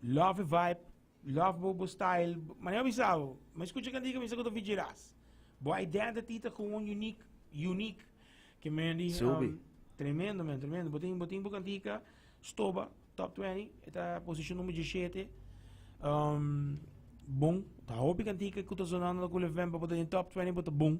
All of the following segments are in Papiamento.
Love e vibe, love bo bo style, ma nan bisa bo, mi a scucha cantica mi sa cu ta Vigi Ras. Bo identity ta cu un unique, unique, ke mi a di Subi. tremendo men, tremendo, bo tin, bo tin bo cantica stoba top twenty, e ta posicion numero dieschete, bon, ta hopi cantica cu ta sonando na Culevember, bo ta den top twenty bo ta bon.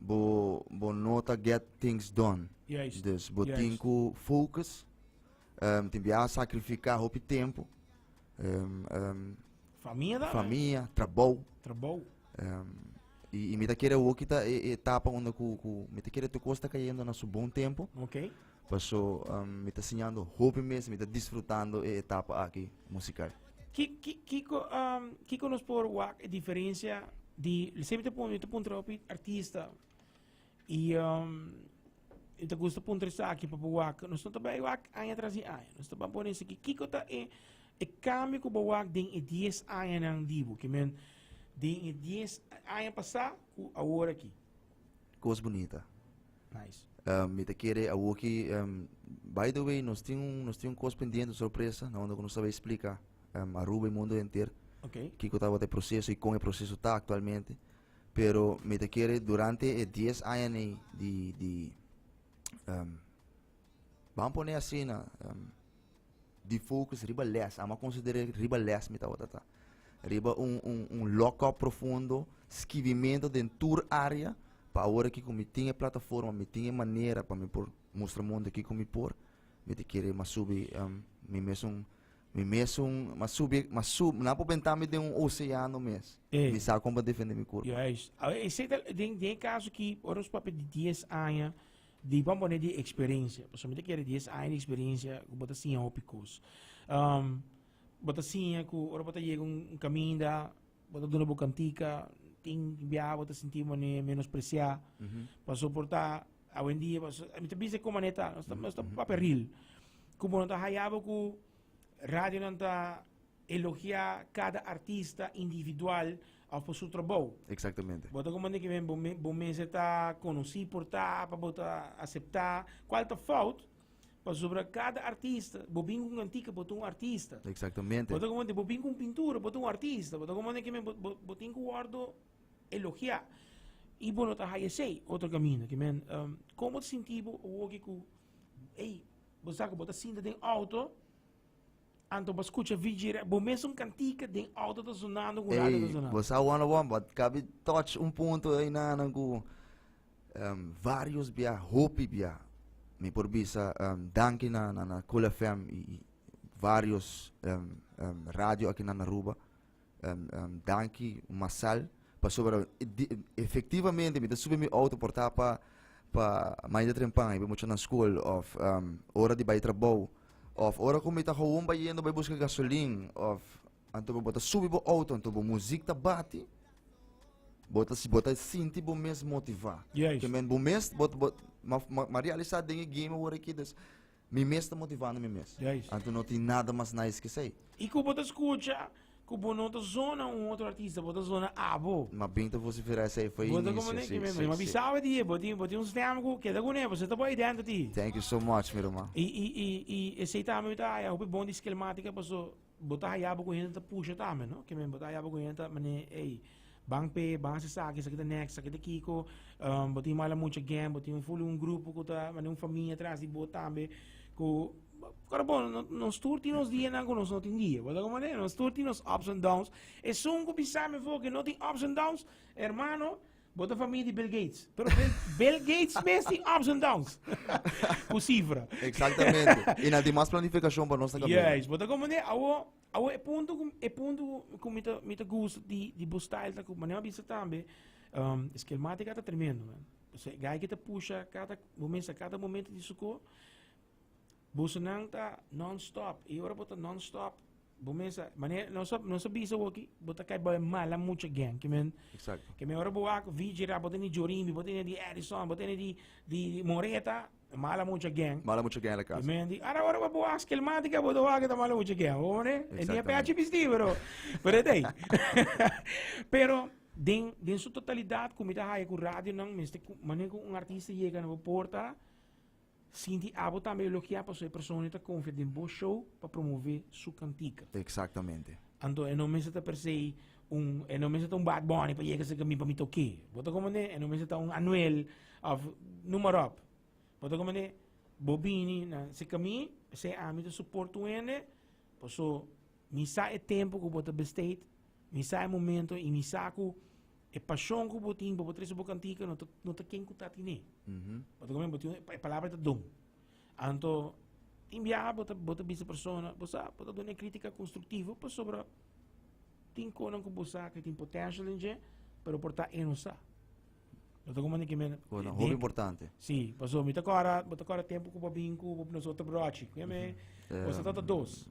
bo bo no ta get things done. Juist. Dus bo Juist. tin ku focus. Um, tin bia sacrifica hopi tempo. Um, um, Famia da. famia, trabou. Trabou. Um, y, y mi ta quiere hoy quita e, etapa donde cu, cu, mi ta quiere tu cosa está cayendo en su buen tiempo. Ok. Paso mi ta siñando hopi mes, mi ta disfrutando e etapa aki musikal. Ki ki kiko kiko nos por wak e diferensia di sey mi ta mi ta puntra hopi artista i mi ta gusta puntra esaki pa bo wak nos no ta bai wak aña tras di aña nos ta ban pone esaki kiko ta e e kambio ku bo wak den e dies añanan di bo kimen den e dies aña pasa ku awor aki. Kos bunita. Nice. Um, mi te kere awoki, um, by the way, nos tin un, nos tin un kos pendiente, un sorpresa, na ondo nos sabe explica um, Aruba y mundo enter. Okay. Kiko tawat e proceso y con e proceso ta actualmente. Pero mi te kere durante e 10 aña ni di, di um, vamos poner así na, um, di focus riba les amo a considera riba les mi tabata ta riba un un un lock up profundo skibimento den tur area pa awor aki ku mi tin e plataforma mi tin e manera pa mi por mustra mundo kiko mi por mi ta kere mas subi em, mi mesun mi mesun mas subi mas sub na por benta mi den un oceano mes Eh. mi sa kon pa defende mi kurpa Juist. Ah, Ese tal, den, den caso ki, ora su papia di 10 aña, Di bo a pone di experiencia, pasobra mi ta kere dies aña di experiencia ku bo ta siña hopi kos. Um, bo ta siña ku ora bo ta yega un kaminda, bo ta duna bo kantika, tin bia bo ta sinti mane menospresiá, pa soportá awen dia, pa so, mi ta bisa ko mane ta, nos ta, nos ta papia real. Ku bo no ta hayabo ku radionan ta Elogia cada artista individual of por su trabou. Exactamente. Bo ta como ne kimen bo mester ta conoci por ta pa bo ta acepta cual ta fout pasobra cada artista bo bin cu un antica bo ta un artista. Exactamente. Bo ta como ne bo bin cu un pintura bo ta un artista bo ta como ne kimen bo tin cu wordo elogia y bo no ta haya esey otro camino kimen um como ta sinti bo awoki cu ey bo sa cu bo ta sinta den auto Anto bo a scucha VG Radio. Bo mes un cantica den auto ta sonando cu radio ta sonando. Bo sa wana wan, but cabi touch un punto ay nanan cu um, ehm, varios bia, hopi bia. Mi por bisa um, ehm, danki na, na, na Cool FM y, y varios um, ehm, um, radio aki na Aruba. danki un masal pasobra efektivamente mi ta subi mi outo por ta pa pa maya di trempan i bai mucha na skol of ora di bai trabou of ora ku mi ta houwon bayendo bai buska gasolin of anto bo ta subi bo outo anto bo muzik ta bati bo ta bo ta sinti bo mes motiva Juist. ke men bo mes bo bo ma ma ma realisá den e game awor aki Mi mes ta motivando mi mes. Juist. Anto no tin nada mas nice ke esei. I ku bo ta skucha ku bo no ta zona un otro artista, bo ta zona abo. Mas bin ta vosiferá esei for e Bo ta inicio. komoné, Si, kimin, si, mi a si. bisa bo di e, bo tin, bo tin un stem ku keda kuné, bo seta bo identity. Thank you so much, mi ruman. I, i, i, i esei tambe mi ta haya hopi bon di Skillmatica paso Bo ta hayabo ku hende ta pusha tambe, no? Ke men bo ta hayabo ku hende ta mane, ey, ban p'e, ban hasi esaki, esaki ta next, esaki ta kiko, um bo tin mala mucha again, bo tin un fulu, un grupo ku ta mane un famia atras di bo tambe ku Pero bon, nos tur tin nos dianan ku nos no tin dia, bo ta hopi mane? Nos tur tin nos ups and downs. Esun ku bisa mefo ke no tin ups and downs, hermano, Bo ta famia di Bill Gates. Pero Bill Gates mes tin ups and downs. Ku sifra. Exactamente. Y nan tin mas planificacion pa nos ta camina. Juist. Bo ta comprende? Awo, awo e punto cu, e punto cu mi ta, mi ta gusta di, di bo style ta cu, manera bo bisa tambe, um, Skillmatica ta tremendo, man. Guy ki ta pusha cada, bo mester cada momento di su co, Busunan ta non-stop i ora bo ta non-stop bo mesa manera nos a nos a bisa bo aki bo ta kai bai mala mucha again ke men Exacto. ke men ora bo wak VJ rap bo tene di Jorimbi bo tene di Edison bo tene di di Moreta mala mucha again Mala mucha again la casa. Men di ara ora bo wak Skillmatica bo ta wak eta mala mucha again bo mane e ni a peachi bisti pero pero e dei pero den den su totalidad ku mi ta haya ku radionan mester ku mane ku un artista yega na bo porta Sinti abo tambe elogiá pasobra e personanan ta konfia den bo show pa promové su kantika. Eksaktamente. Anto e no mester ta per se un e no mester ta un Bad Bunny pa yega serka mi pa mi ta oké. Bo ta komprendé? E no mester ta un Anuel òf numeròp. Bo ta komprendé? Bo bini na serka mi p'esei ami ta suport un hende paso mi sa e tempu ku bo ta bestei, mi sa e momento i mi sa ku E pashon ku bo tin pa bo trese bo kantika no ta no ta ken ku ta tine. Bo ta bo tin e palabra ta don. Anto tin biaha bo ta bo ta bisa persona, bo sa bo ta done kritika konstruktivo pasobra tin konan ku bo sa ke tin potential den dje pero por ta e no sa. Bo ta koman di kimen Konan hopi importante. Si, paso mi ta kora bo ta kora tempu ku bo bin ku bo nos otro brochi. Kume bo sa ta dos.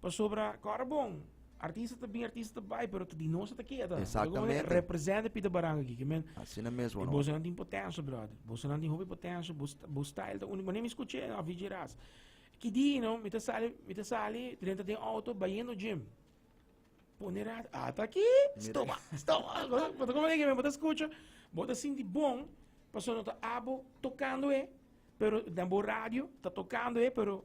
Pasobra kòrda bon, artista ta bin, artista ta bai, pero di nos ta keda. Exactamente. Representa Pita Baranga aquí, men. Asina mesmo. E bosa nan tin potencia, brother. Bosa nan tin hopi potencia, bo style ta unik. Manem escuché, no, VJ Ras. Ki di, no, mi ta sali, mi ta sali, trenta den auto, bayendo gym. Pone rat, ata ki, stoma, stoma. Bota como que me bota escucha, bota sinti bon, paso no ta abo tocando e, pero dan bo radio, ta tocando e, pero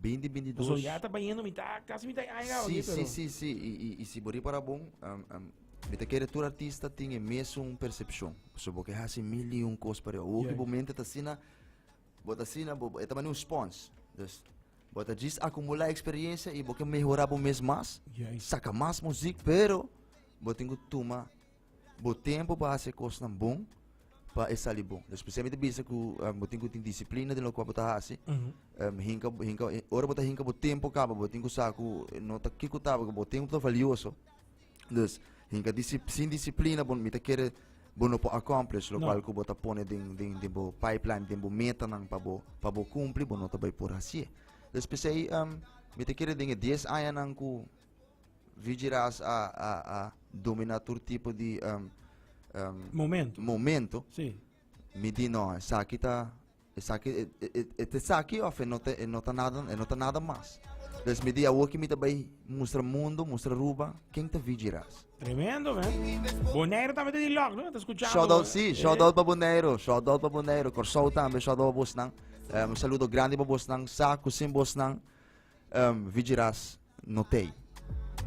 Binti binti dos. Paso ya ta bañando mi ta casi mi ta aña si, si, si, si. Y, y, y si bori para bon, um, um, mi te quiere tur artista tin e meso un percepción. So bo que hace mil y un cos para o que bo mente ta sina, bo ta sina, bo, eta mani un spons. Dus, bo ta jis acumula experiencia y bo que mejora bo mes mas, yeah. saca mas muziek, pero bo tingo tuma Bo tempu pa hasi e kosnan bon pa e sali bon. Dus p'esei mi ta bisa ku um, bo tin ku tin disiplina den lo kua bo ta hasi. Um, hinka, hinka, eh, ora bo ta hinka bo tempu kaba, bo tin ku sa ku eh, no ta ki ku taba, ku bo tempu ta valioso. Dus hinka disip, sin disiplina bon mi ta kere bo no por accomplish lo No. kual ku bo ta pone den den den bo pipeline, den bo metanan pa bo pa bo kumpli, bo no ta bai por hasi. Dus p'esei um, mi ta kere den e 10 añanan ku Vigiras a, a, a domina tur tipo di um, um, momento. momento. Sí. Mi di no, esaki ta esaki e, e, e, e te saki of e no te e no ta nada e no ta nada mas. Dus mi di awo ki mi ta bay mustra mundo, mustra Aruba, ken ta vigiras. Tremendo, man. Bonaire también te di lock, ¿no? Te escuchando. Shout out, sí, shout out pa Bonaire, shout out pa Bonaire, Corsou también, shout out pa Bosnan. Um, saludo grande pa Bosnan, Saku sin Bosnan, um, Vigiras. notei.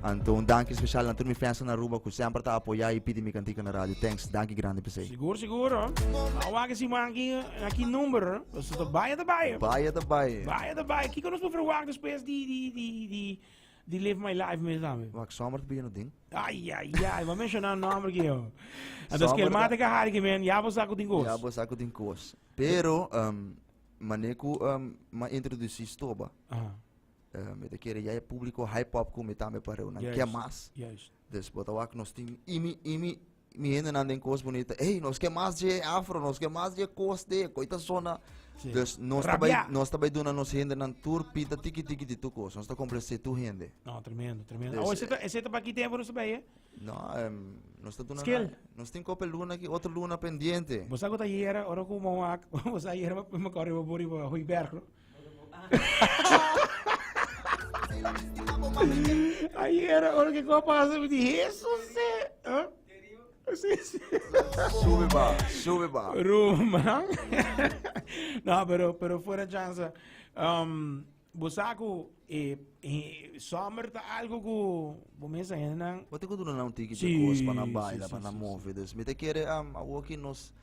Anto un danki special na tur mi fans na Aruba ku semper ta apoya i pidi mi kantika na radio. Thanks, danki grandi pesei. Sigur, sigur. Nou wak si man ki aki number. So ta baya ta baya. Baya ta baya. Baya ta baya. Kiko nos por verwak despues di di di di di Live My Life mes dame. Wak sommer te bigin ding. Ay ay ay, ma mencionar nombre ki yo. Anto Sommer skel mate ka hari ki men, ya bo sako tin kos. Ja bo sako tin kos. Pero um, maneku um, ma introdusi stoba. Aha. Uh, mi ta kere ya e público hype up con mi tambe pa reu. Nan yes. mas. Yes. Dus botawak nos tin imi, imi, mi hende nan den cos bonita. Hey, nos ke mas je afro, nos ke mas je cos de, coita zona. Sí. Dus nos ta bij, nos ta bij doen aan nos hende nan tour pita tiki tiki di tu cos. Nos ta complacé tu hende. No, tremendo, tremendo. Dus, oh, ese ta, ese ta pa ki tempo nos bij, eh? No, um, nos ta doen Skill. Nos tin kope luna ki, otro luna pendiente. Bosa ko ta jera, ora ko mo wak, bosa jera, me corre bo bori bo, hui berg, no? Ayer ora que copa pasa me di Jesus se. Huh? Sí, sí. Sube ba, sube ba. Ruman. no, pero pero fuera chance. Um, Bosaku eh, eh, summer ta algo ku bo mesa henan. Wat ik doen nou tiki de kos para baila, para move. Dus me te kere am a woki nos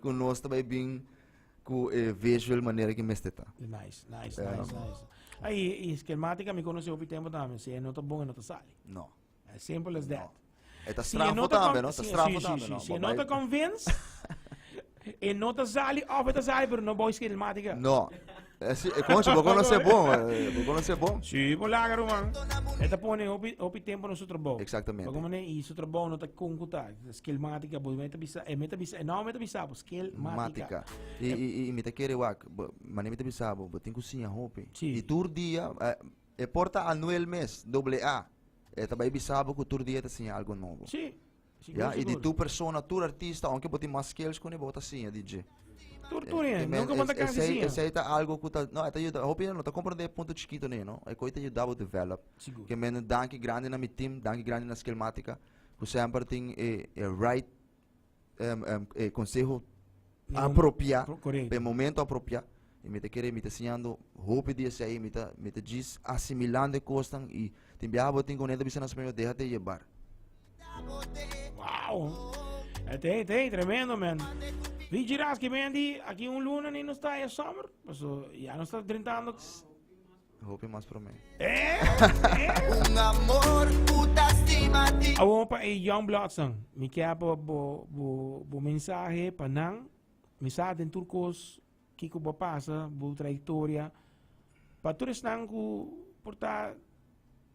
ku nos ta bai bin ku e visual manera ki mester ta. Nice, nice, um, nice, nice. Ai, e schematica mi conoce hopi tempo tambe. Si e no ta bon, e no ta sali. No. As simple as that. E ta strafo tambe, no? Ta strafo tambe, no? Si e no ta convince, e no ta sali, of e ta sali, pero no boy schematica. No. Eh, sí, eh, concha, vos conoces vos, eh, vos conoces vos. Sí, por laga roman. Esta pone hopi, hopi tempo no su trabajo. Exactamente. Como ne y su trabajo no ta concuta. Skill matica, pues meta bisa, eh, meta bisa, eh, no meta bisa, pues skill matica. Matica. Y, y, y, y me te quiere wak, mané me te bisa, bo, bo, ten cocina hopi. Sí. Y tur día, eh, eh, porta anuel mes, doble A. Eh, ta bai bisa, bo, que tur día te enseña algo nuevo. Sí. Ya, i di tur persona, tur artista, aunque bo tin mas skills ku ni, bo ta siña di dje. Tur tur eh, men, nunca bo ta kasi siña. Esei ta algo ku ta, no, ta yuda, hopi no ta komprende punto chikito ne, no, e koi ta yuda bo develop. Sigur. Ke men danki grandi na mi team, danki grandi na Skillmatica, ku semper tin e, e right um, um, e conseho apropiá, pa e momento apropiá. E mita kere, mita siñando hopi di esei, mita, mita djis asimilando e kosnan i tin biaha bo tin ku un hende a bisa na Spanje, deha te yebar. Wow! Het heet, heet, tremendo man. Wie Giraski man die, aquí un luna ni nos está en summer. Paso, ya nos está drentando. Hopi mas prome. Awor pa e Young Blood san. Mi kia bo bo bo bo mensahe pa nan. Mi sa den tur kos kiko bo pasa, bo trayektoria. Pa tur esnan ku por ta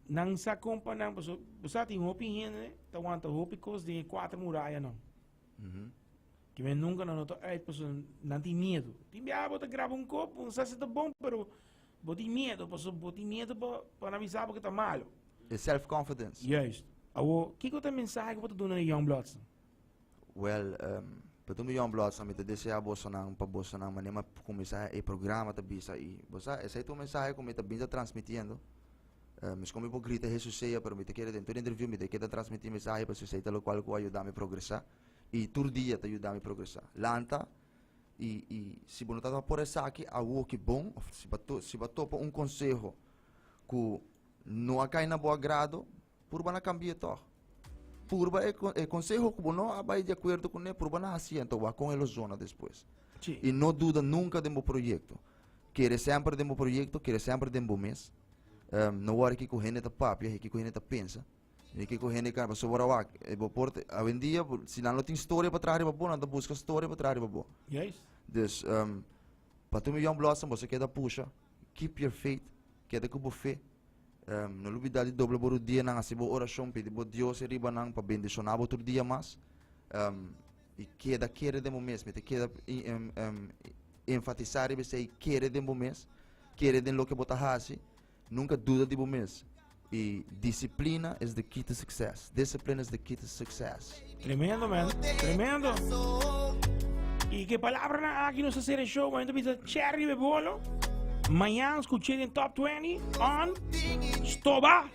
nan sa kon pa nan paso bo sa tin hopi hende ta wanta hopi kos den e kuater muraya nan. Ke men nunka nan no ta uit paso nan tin miedu. Tin bia bo ta graba un kop, bo no sa si ta bon pero Bo tin miedo pasobra bo tin miedo pa nan bisa bo ku ta malu. E self confidence. Juist. Awor, kiko ta e mensahe ku bo ta duna na Youngbloodsen? Wel, um, pa tur mi Youngbloodsen mi ta desea bosonan pa bosonan manera kuminsá e programa ta bisa i bo sa esei ta un mensahe ku mi ta binsa transmitiendo. Um, esko mi por grita Hesus sea, pero mi ta kere den tur interviu mi ta keda transmiti mensahe pasobra esei ta lokual ku a yuda mi progresá i tur dia ta yuda mi progresá. Lanta. i i si bo no ta por esaki awo ki bon of si bo si bo topa un konseho ku no a kai na bo agrado purba na kambie tòg purba e e konseho ku bo no a bai di akuerdo kuné purba na hasi anto bo a kon e lo zona despues Sí. i no duda nunka den bo proyekto kere semper den bo proyekto kere semper den bo mes Em, no wòrdu kiko hende ta papia e kiko hende ta pensa Mi ke ku hende kaba sobra wak. E bo por te- awendia bo- si nan lo tin storia pa traha riba bo, nan ta buska storia pa traha riba bo. Juist. Dus ehm pasobra mi Young Blossom boso keda pusha, keep your faith, keda ku bo fe. Ehm no lo bida di dobla bo rudienan, hasi bo orashon, pidi bo Dios e riba nan pa bendishoná bo otro dia mas. Ehm i keda kere den bo mes, mi ta keda i- em- em- enfatisá riba esei, kere den bo mes, kere den loke bo ta hasi, Nunka duda di bo mes i disiplina es di key to success. Discipline is the key to success. Tremendo man, tremendo. Y que palabra na aki nos hacer el show, momento pita cherry be bolo. Mañana escuché en Top 20 on Stoba.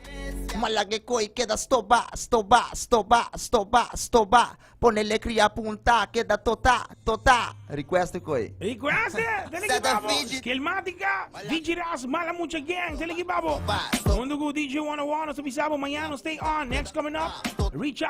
Malagekoi queda stoba, stoba, stoba, stoba, stoba. Pone lekri ya punta keda tota, tota. Request e koe. Request e, dele ki babo. Skillmatica, DJ Ras, Mala Mucha Gang, dele ki babo. Hundu ku DJ One on One nos a bisa bo mañana nos stay on. Next coming up, Richard.